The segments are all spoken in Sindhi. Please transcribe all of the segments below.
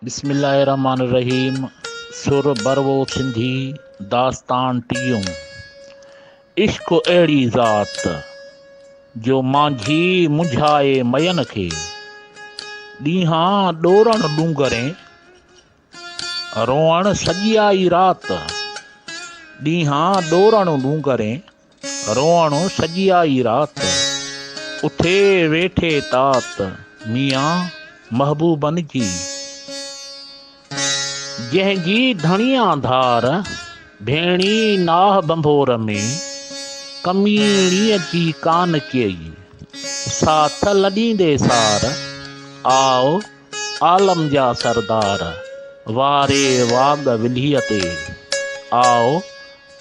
بسم الله الرحمٰن الرحيم سر بروو سنڌي داستان ٽيون عشق اهڙي ذات جو مانجهي منجهائي مئين کي ڏينهان ڏورڻ ڏونگرين روئڻ سڄي آئي رات ڏينهان ڏورڻ ڏونگرين روئڻ سڄي آئي رات، اٿي ويٺي تات ميان محبوبن جي. جنهن جي ڌڻيان ڌار، ڀيڻي ناهه ڀنڀور ۾، ڪميڻيء جي ڪان ڪيئي، ساٿ لڏيندي سار، آء عالم جا سردار، واري واڳ ولهيء تي، آء.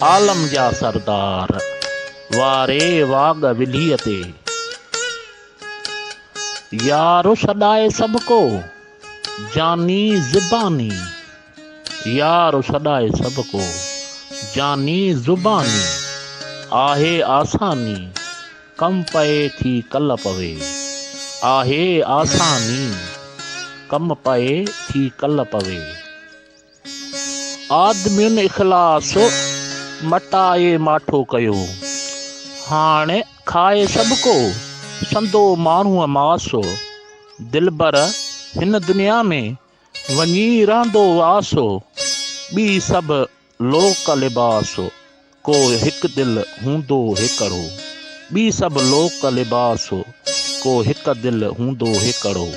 عالم جا سردار واري واڳ ويلهيء تي. يار سڏائي سڀ ڪو جاني زباني. يار سڏائي سڀ ڪو جاني زباني. آهي آساني ڪم پئي ٿي ڪل پوي. آهي آساني ڪم پئي ٿي ڪل پوي. آدمين اخلاص مٽائي ماٺو ڪيو. هاڻ کائي سڀ ڪو سندو ماڻهوء ماس. دلبر هن دنيا ۾ وڃي رهندو واس. ٻي سڀ لوڪ لباس. ڪو هڪ دل هوندو هيڪڙو. ٻي سڀ لوڪ لباس هو. ڪو هڪ دل هوندو هيڪڙو.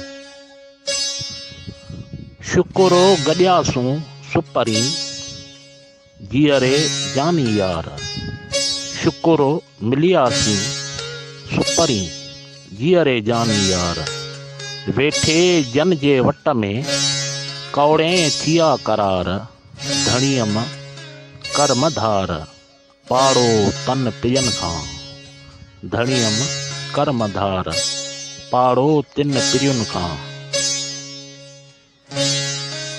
شڪر هو گڏياسون سپري. جيئري جاني يار. شڪر هو ملياسين سپري. جيئري جاني يار. ويٺي جن جي وٽ ۾. ڪوڙين ٿيا قرار. ڌڻي ام ڪرم ڌار، پاڙو تن پيئن کان. ڌڻي ام ڪرم ڌار، پاڙو تن پيئن کان.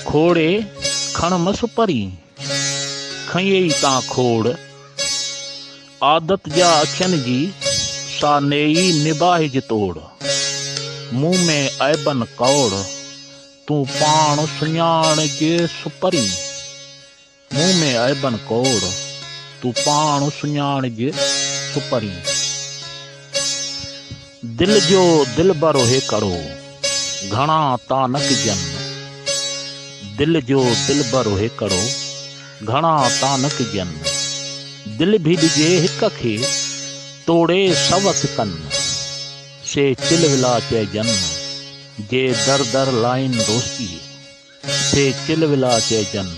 کوڙي کڻ مس پري، کنئي تان کوڙ. عادت جا اکين جي، سا نيئي نباهج توڙ. مون ۾ عيبن ڪوڙ، تون پاڻ سڃاڻجيس پرين، مون ۾ عيبن ڪوڙ، تون پاڻ سڃاڻجيس پرين. دل جو دلبر هيڪڙو، گهڻا تا نه ڪجن، دل جو دلبر هيڪڙو، گهڻا تا نه ڪجن، دل به ڏجي هڪ کي، توڙي سوت ڪن، سي چلولا چئجن. جي در در لائين دوستي، سي چل ولا چئجن،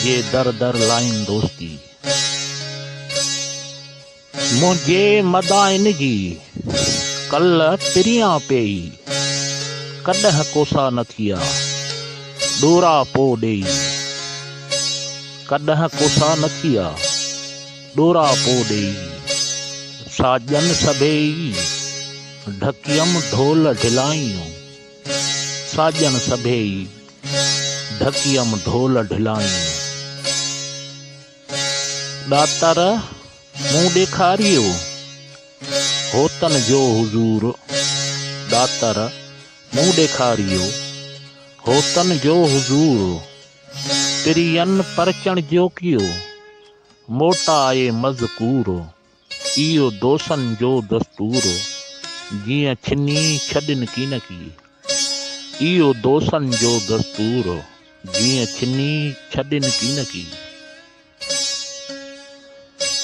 جي در در لائين دوستي. منهنجي مدائن جي، ڪل پريان پيئي، ڪڏهن ڪوسا نه ٿيا، ڏورا پو ڏيئي، ڪڏهن ڪوسا نه ٿيا، ڏورا پو ڏيئي، ساڄن سڀيئي. ڍڪيم ڍول ڍلائيون، ساڄن سڀيئي ڍڪيم ڍول ڍلائيون. ڏاتر مون ڏيکاريو، هوتن جو حضور ڏاتر مون ڏيکاريو، هوتن جو حضور پرين پرچڻ جوکيو، موٽائي مذڪور. اهو دوسن جو دستور هو، جيئن ڇني ڇڏين ڪين ڪي. اهو دوسن جو دستور هو، جيئن ڇني ڇڏين ڪين ڪي.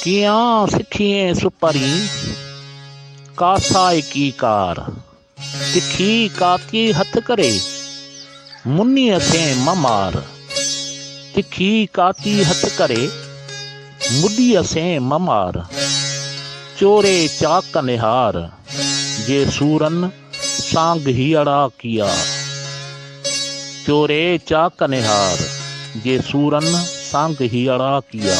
ڪيئان سکيئين سپرين، ڪا سائڪي ڪار. تکي ڪاڪي هٿ ڪري، مني اکين م مار. تکي ڪاڪي هٿ ڪري، مڏي اسين م مار. چوري چاڪ نهار، جي سورن سانگ هيئڙا ڪيا. چوري چاڪ نهار، جي سورن سانگ هيئڙا ڪيا.